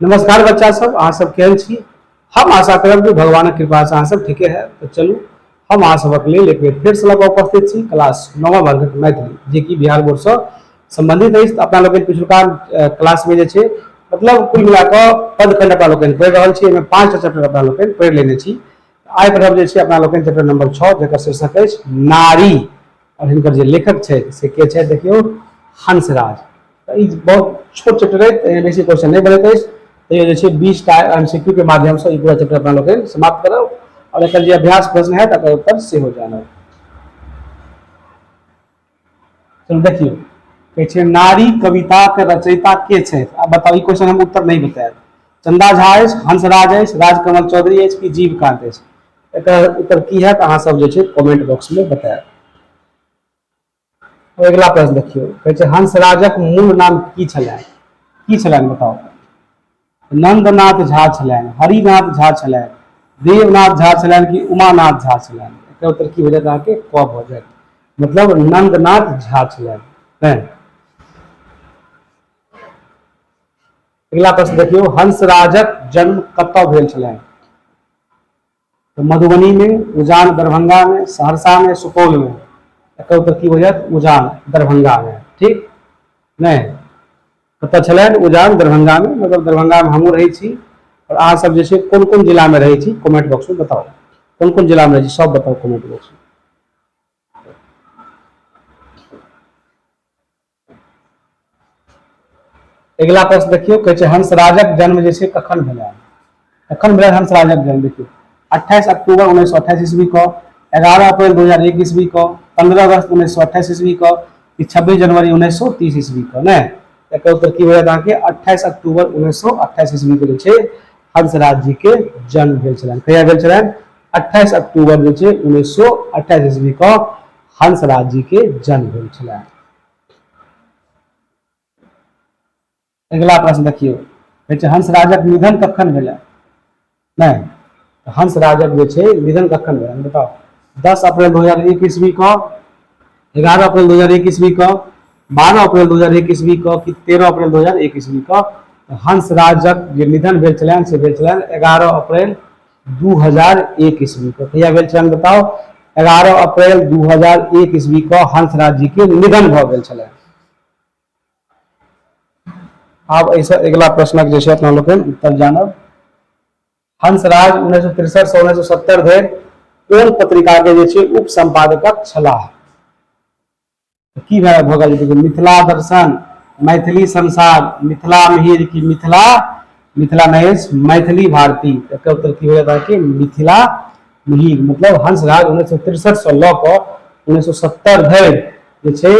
नमस्कार बच्चा सब अहाँ सब केहन छी हम आशा करब जे भगवानक कृपा से अहाँ सब ठीके है तो चलू हम अहाँ सबक लेल एक बेर फेर से लग उपस्थित छी क्लास नौवा वर्गक मैथिली जे कि बिहार बोर्ड से संबंधित अछि तऽ अपना लोकनि पिछुलका अ, क्लास में जे छै मतलब कुल मिला कऽ पदखंड अपना लोकनि पढ़ि रहल छी एहिमे पाँच टा चैप्टर अपना लोकनि पढ़ि लेने छी आइ पढ़ब जे छै अपना लोकनि चैप्टर नंबर छओ जकर शीर्षक अछि नारी आओर हिनकर जे लेखक छै से के छै देखियौ हंसराज तऽ ई बहुत छोट चैप्टर अछि एहिमे बेसी क्वेश्चन नहि बनैत अछि तैयो जे छै बीस टा एम सी क्यू के माध्यमसँ ई पूरा चैप्टर अपना लोकनि समाप्त करब आओर एकर जे अभ्यास प्रश्न है तकर उत्तर सेहो जानब चलू देखियौ कहै छै नारी कविताके रचयिता के छथि आ बताउ ई क्वेश्चन हम उत्तर नहि बतायब चंदा झा अछि हंसराज अछि राजकमल चौधरी अछि कि जीवकांत अछि एकर उत्तर की है अहाँ सब जे छै कमेंट बॉक्स में बतायब अगिला प्रश्न देखियो कहे छै हंसराजक मूल नाम की छलै की छलै बताओ नंदनाथ झा छलै हरिनाथ झा छलै देवनाथ झा छलै कि उमानाथ झा छलै एकर उत्तर की हो जायत अहाँ के क भ जायत मतलब नंदनाथ झा छलै अगिला प्रश्न देखियौ हंसराजक जन्म कतय भेल छलनि तऽ मधुबनीमे उजान दरभंगामे सहरसामे सुपौलमे एकर उत्तर की हो जायत उजान दरभंगामे ठीक नहि कतय छलनि उजान दरभंगामे मतलब दरभंगामे हमहूँ रहै छी आओर अहाँ सब जे छै कोन कोन जिलामे रहै छी कमेंट बॉक्समे बताउ कोन कोन जिलामे रहै छी सब बताउ कमेंट बॉक्समे अगिला प्रश्न देखियौ कहै छै हंसराजक जन्म जे छै कखन भेलै कखन भेलै हंसराजक जन्म देखियौ अट्ठाईस अक्टूबर उन्नैस सए अट्ठाईस ईस्वी को एगारह अप्रैल दू हजार एक ईस्वी को पंद्रह अगस्त उन्नैस सए अट्ठाईस ईस्वी को कि छब्बीस जनवरी उन्नैस सए तीस ईस्वी को नहि एकर उत्तर की होयत अहाँके अट्ठाईस अक्टूबर उन्नैस सए अट्ठाईस ईस्वी के जे छै हंसराज जी के जन्म भेल छलनि कहिया भेल छलनि अट्ठाईस अक्टूबर जे छै उन्नैस सए अट्ठाईस ईस्वी को हंसराज जी के जन्म भेल छलै अगिला प्रश्न देखियौ कहै छै हंसराजक निधन कखन भेलै नहि तऽ हंसराजक जे छै निधन कखन भेलै बताउ दस अप्रैल दू हजार एक ईस्वी कऽ एगारह अप्रैल दू हजार एक ईस्वी कऽ बारह अप्रैल दू हजार एक ईस्वी कऽ कि तेरह अप्रैल दू हजार एक ईस्वी कऽ हंसराजक जे निधन भेल छलनि से भेल छलनि एगारह अप्रैल दू हजार एक ईस्वी को कहिया भेल छलनि बताउ एगारह अप्रैल दू हजार एक ईस्वी को हंसराज जी के निधन भऽ गेल छलनि आब एहिसँ अगिला प्रश्नक जे छै अपना लोकनि उत्तर जानब हंसराज उन्नैस सए तिरसठ से उन्नैस सए सत्तर धरि कोन पत्रिका के जे छै उप संपादकक छलाह की भए भऽ गेल देखियौ मिथिला दर्शन मैथिली संसार मिथिला मिहिर की मिथिला मिथिला महेश मैथिली भारती एकर उत्तर की हो जाता है कि मिथिला मिहिर मतलब हंस राज उन्नैस सए तिरसठ से लऽ कऽ उन्नैस सए सत्तर धरि जे छै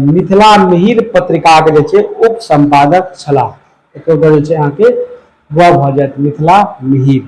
मिथिला मिहिर पत्रिकाके जे छै उप सम्पादक छलाह एकर उत्तर जे छै अहाँके ग भऽ जायत मिथिला मिहिर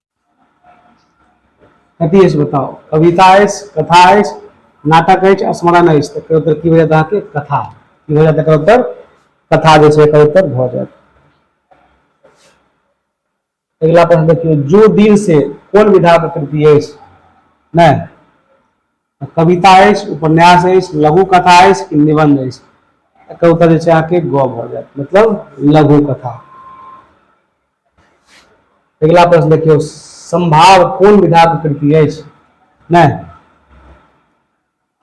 कथी अछि बताउ कविता अछि कथा अछि नाटक अछि स्मरण अछि तऽ एकर उत्तर की भऽ जायत अहाँके कथा की भऽ जायत एकर उत्तर कथा जे छै एकर उत्तर भऽ जायत अगिला प्रश्न देखियौ जो दिल से कोन विधाक कृति अछि नहि कविता अछि उपन्यास अछि लघु कथा अछि कि निबंध अछि एकर उत्तर जे छै अहाँके गौ भऽ जायत मतलब लघु कथा अगिला प्रश्न देखियौ संभाव कोन विधाक कृति अछि नहि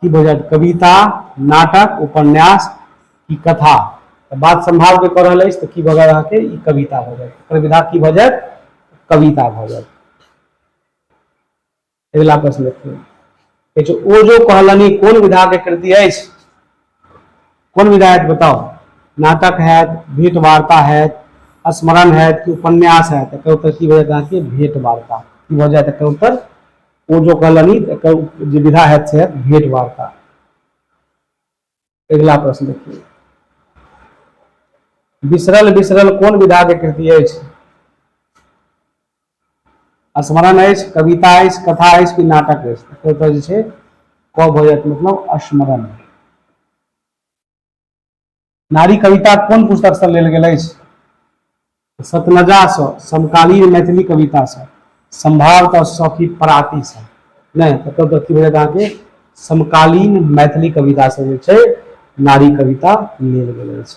की भऽ जायत कविता नाटक उपन्यास की कथा बात संभाव के कऽ रहल अछि तऽ की भऽ जायत अहाँके ई कविता भऽ जायत एकर विधा की भऽ जायत कविता भऽ जायत अगिला प्रश्न देखियौ कहै छै ओ जो कहलनि कोन विधा के कृति अछि कोन विधा है बताओ नाटक है भेंट वार्ता है स्मरण है कि उपन्यास है तो एकर उत्तर की भऽ जायत अहाँके भेंट वार्ता की भऽ जायत एकर उत्तर ओ जो कहलनि एकर जे विधा है से भेंट वार्ता अगिला प्रश्न देखिए बिसरल बिसरल कोन विधा के कृति अछि स्मरण अछि कविता अछि कथा अछि कि नाटक अछि तो जे छै क भऽ जायत मतलब स्मरण नारी कविता कोन पुस्तक से लेल गेल अछि सतनजासँ समकालीन मैथिली कवितासँ सम्भावतः सखी परातीसँ नहि तकर तऽ की भेलै अहाँके समकालीन मैथिली कवितासँ जे छै नारी कविता लेल गेल अछि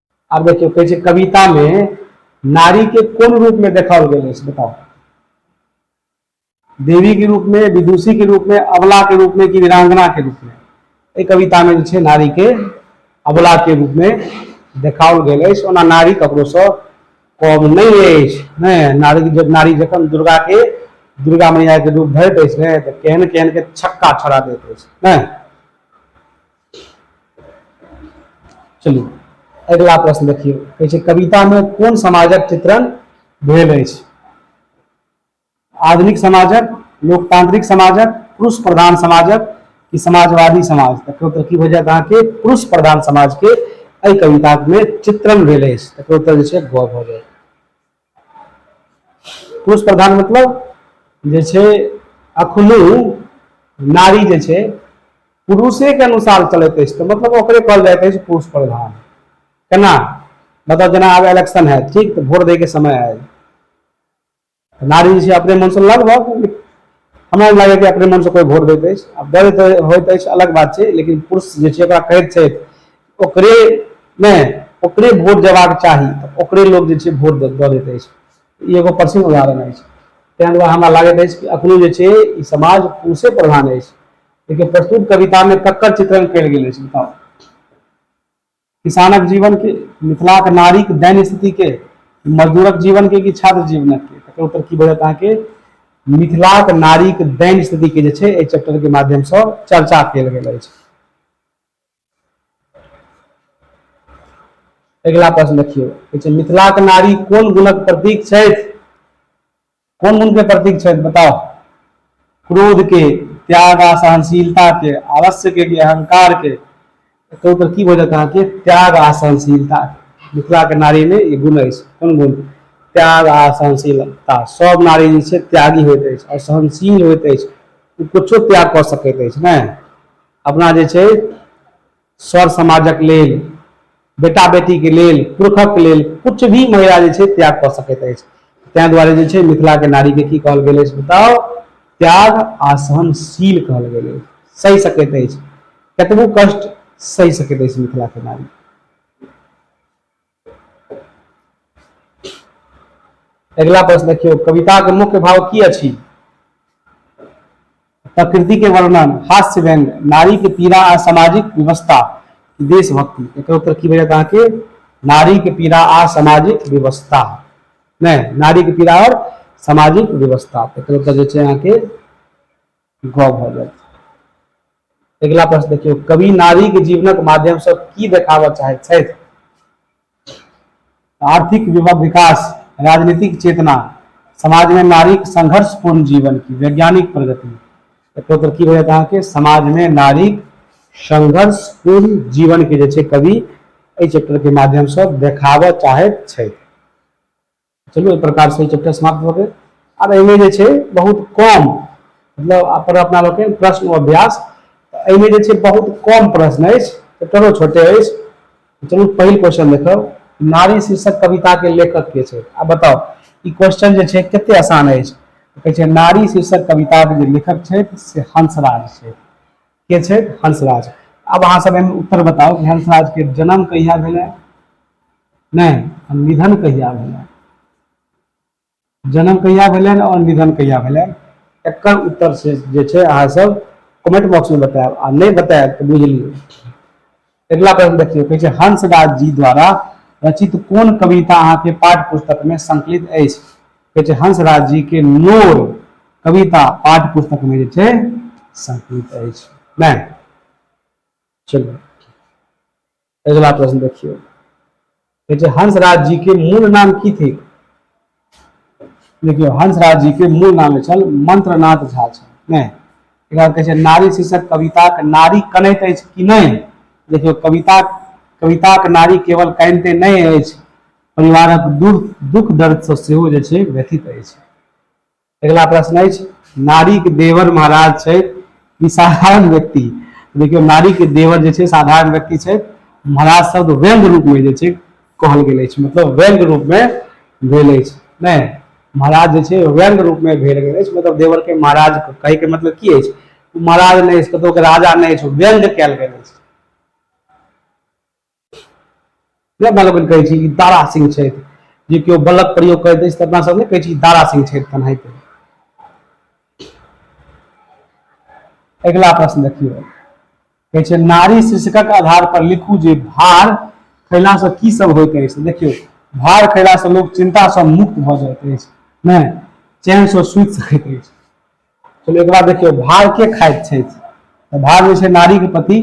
आब देखियौ कहै छै कविता मे नारी के कोन रूप में देखाओल गेल अछि बताओ देवी के रूप में विदुषी के रूप में अबला के रूप में कि वीरांगना के रूप में एहि कविता में जे छै नारी के अबला के रूप में देखाओल गेल अछि ओना नारी ककरो से कम नहि अछि ने नारी जब नारी जखन दुर्गा के दुर्गा मैया के रूप धरैत अछि ने तऽ केहन केहन के छक्का छोड़ा दैत अछि ने चलिए अगला प्रश्न देखिए कहे छै कविता में कौन समाजक चित्रण भेल अछि आधुनिक समाजक लोकतांत्रिक समाजक पुरुष प्रधान समाजक कि समाजवादी समाज तकर उत्तर की भऽ जायत अहाँके पुरुष प्रधान समाज के एहि कविता में चित्रण भेल अछि तकर उत्तर जे छै गौ भऽ जायत पुरुष प्रधान मतलब जे छै अखनो नारी जे छै पुरुषेके अनुसार चलैत अछि तऽ मतलब ओकरे कहल जाइत अछि पुरुष प्रधान केना मतलब जेना आब इलेक्शन है ठीक तऽ वोट दैके समय आयल नारी जे छै अपने मनसँ लगभग हमरा लागैए कि अपने मनसँ कोइ वोट दैत अछि आ दर्द होइत अछि अलग बात छै लेकिन पुरुष जे छै ओकरा कहैत छथि ओकरे नहि ओकरे वोट देबाक चाही तऽ ओकरे लोक जे छै वोट दऽ दैत अछि ई एगो प्रसिद्ध उदाहरण अछि ताहि दुआरे हमरा लागैत अछि कि एखनो जे छै ई समाज पुरुषे प्रधान अछि लेकिन प्रस्तुत कवितामे ककर चित्रण कयल गेल अछि बताउ किसानक जीवन के मिथिलाक नारीक दैन स्थिति के मजदूरक जीवन के कि छात्र जीवनक के तकर उत्तर की भेटत अहाँके मिथिलाक नारीक दैन स्थिति के जे छै एहि चैप्टर के माध्यम से चर्चा कयल गेल अछि अगिला प्रश्न देखियौ मिथिलाक नारी कोन गुणक प्रतीक छथि कोन गुण के प्रतीक छथि बताओ क्रोध के त्याग आ सहनशीलता के अवश्य के अहंकार के तो उधर की वजह कहा कि त्याग आ सहनशीलता मिथिला के नारी में ये गुण अछि कोन गुण त्याग आ सहनशीलता सब नारी जे छै त्यागी होइत अछि आओर सहनशील होइत अछि ओ कुछो त्याग कऽ सकैत अछि ने अपना जे छै सर समाजक लेल बेटा बेटी के लेल पुरखक लेल कुछ भी महिला जे छै त्याग कऽ सकैत अछि ताहि दुआरे जे छै मिथिला के नारी के की कहल गेल अछि बताउ त्याग आ सहनशील कहल गेल अछि सहि सकैत अछि कतबो कष्ट सहि सकैत अछि मिथिला के नारी अगिला प्रश्न देखियौ कविताके मुख्य भाव की अछि प्रकृति के वर्णन हास्य व्यंग नारी के पीड़ा आ सामाजिक व्यवस्था देशभक्ति एक उत्तर की भेटत अहाँके नारी के पीड़ा आ सामाजिक व्यवस्था नहीं नारी के पीड़ा और सामाजिक व्यवस्था एक उत्तर जो है अहाँके गौ भऽ जाइत अगिला प्रश्न देखियौ कवि नारी के जीवनक माध्यम से की देखाबऽ चाहैत छथि आर्थिक विकास राजनीतिक चेतना समाज में नारी संघर्षपूर्ण जीवन की वैज्ञानिक प्रगति एकोतर की होयत अहाँके समाज में नारी संघर्षपूर्ण जीवन के जे कवि एहि चैप्टर के माध्यम से देखाबऽ चाहैत छथि चलू एहि प्रकार से चैप्टर समाप्त भऽ गेल आब एहिमे जे छै बहुत कम मतलब अपन अपना लोकनि प्रश्न अभ्यास एहिमे जे छै बहुत कम प्रश्न अछि चैप्टरो छोटे अछि चलू पहिल क्वेश्चन देखब नारी शीर्षक कविता के लेखक के छै आ बताओ ई क्वेश्चन जे छै कते आसान अछि कहै छै नारी शीर्षक कविता के जे लेखक छथि से हंसराज छथि के छै हंसराज अब अहाँ सब एहिमे उत्तर बताउ कि हंसराज के जन्म कहिया भेलै नहि निधन कहिया भेलै जन्म कहिया भेलै और निधन कहिया भेलै एकर उत्तर से जे छै अहाँ सब कमेंट बॉक्स में बतायब आ नहि बतायब तऽ बुझ लियौ अगिला प्रश्न देखियौ कहै छै हंसराज जी द्वारा रचित कोन कविता अहाँके पाठ्य पुस्तक में संकलित अछि कहै छै हंसराज जी के नोर कविता पाठ्य पुस्तक में जे छै संकलित अछि नहि चलू अगिला प्रश्न देखियौ देखिए हंसराज जी के मूल नाम की थी देखियो हंसराज जी के मूल नाम छल मंत्रनाथ झा छल नहीं एकरा कहै छै नारी शीर्षक कविताक नारी कनैत अछि कि नहीं देखियो कविता कविताक नारी केवल कानिते नहीं अछि परिवारक दुख दुख दर्द से सेहो जे छै व्यथित अछि अगिला प्रश्न अछि नारीक देवर महाराज छै ई साधारण व्यक्ति देखियौ नारीक देवर जे छै साधारण व्यक्ति छै महाराज शब्द व्यंग रूपमे जे छै कहल गेल अछि मतलब व्यंग रूपमे भेल अछि नहि महाराज जे छै व्यंग रूपमे भेल गेल अछि मतलब देवरके महाराज कहैके मतलब की अछि महाराज नहि अछि कतहुके राजा नहि अछि व्यंग कयल गेल अछि नहि अपना लोकनि कहै छी दारा सिंह छथि जे केओ बलक प्रयोग करैत अछि तऽ अपना सब नहि कहै छी दारा सिंह छथि तेनाहिते अगिला प्रश्न देखियौ कहै छै नारी शीर्षकक आधार पर लिखू जे भार खयलासँ की सब होइत अछि देखियौ भार खयलासँ लोक चिन्तासँ मुक्त भऽ जाइत अछि नहि चैनसँ सुति सकैत अछि चलू एक बार देखियौ भार के खाइत छथि तऽ भार जे छै नारी के पति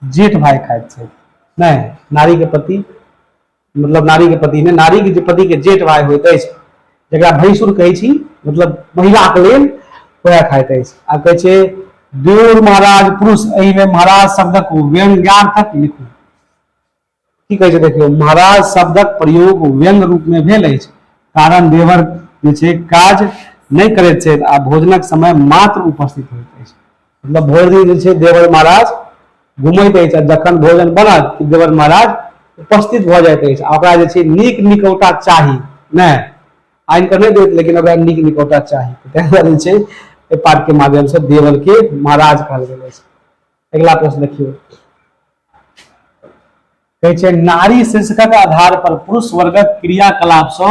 जेठ भाई खाइत छथि नहि नारी के पति मतलब नारी के पति ने नारी के पति के जेठ भाई होइत अछि जकरा भैंसुर कहै छी मतलब महिला के लेल वह खाइत अछि आ कहै छै देव महाराज पुरुष एहिमे महाराज शब्दक व्यंग्यार्थक लिखू की कहै छै देखियौ महाराज शब्दक प्रयोग व्यंग रूपमे भेल अछि कारण देवर जे छै काज नहि करैत छथि आ भोजनक समय मात्र उपस्थित होइत अछि मतलब भरि दिन जे छै देवर महाराज घुमैत अछि आ जखन भोजन बनत कि देवर महाराज उपस्थित भऽ जाइत अछि आ ओकरा जे छै नीक निकौटा चाही नहि आनि कऽ नहि देत लेकिन ओकरा नीक निकौटा चाही ताहि दुआरे जे छै एहि पाठके माध्यमसँ देवलके महाराज कहल गेल अछि अगिला प्रश्न देखियौ कहै छै नारी शीर्षकक आधार पर पुरुष वर्गक क्रियाकलाप से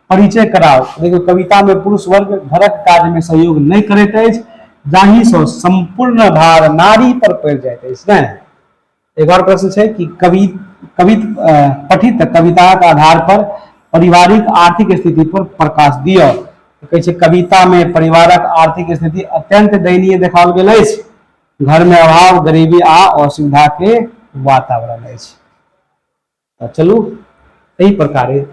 परिचय कराओ देखियौ कविता में पुरुष वर्ग घरक काज में सहयोग नहीं करैत अछि जाहि से संपूर्ण भार नारी पर पड़ जाए अछि ने एक और प्रश्न है कि कवि कवि पठित कविता के आधार पर पारिवारिक आर्थिक स्थिति पर प्रकाश दियो कहे कविता में परिवारक आर्थिक स्थिति अत्यंत दयनीय देखाओल गेल अछि घर में अभाव गरीबी आ असुविधा के वातावरण अछि तऽ चलू एहि प्रकारे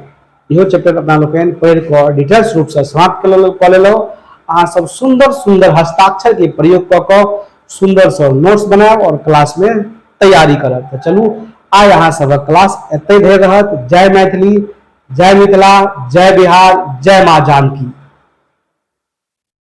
इहो चैप्टर अपना लोकनि पढ़ि कऽ डिटेल्स रूपसँ समाप्त कऽ लेलहुँ अहाँ सब सुंदर सुंदर हस्ताक्षर के प्रयोग कऽ कऽ सुंदर सँ नोट्स बनायब और क्लास में तैयारी करब तऽ चलू आइ अहाँ सबक क्लास एतै धरि रहत जय मैथिली जय मिथिला जय बिहार जय माँ जानकी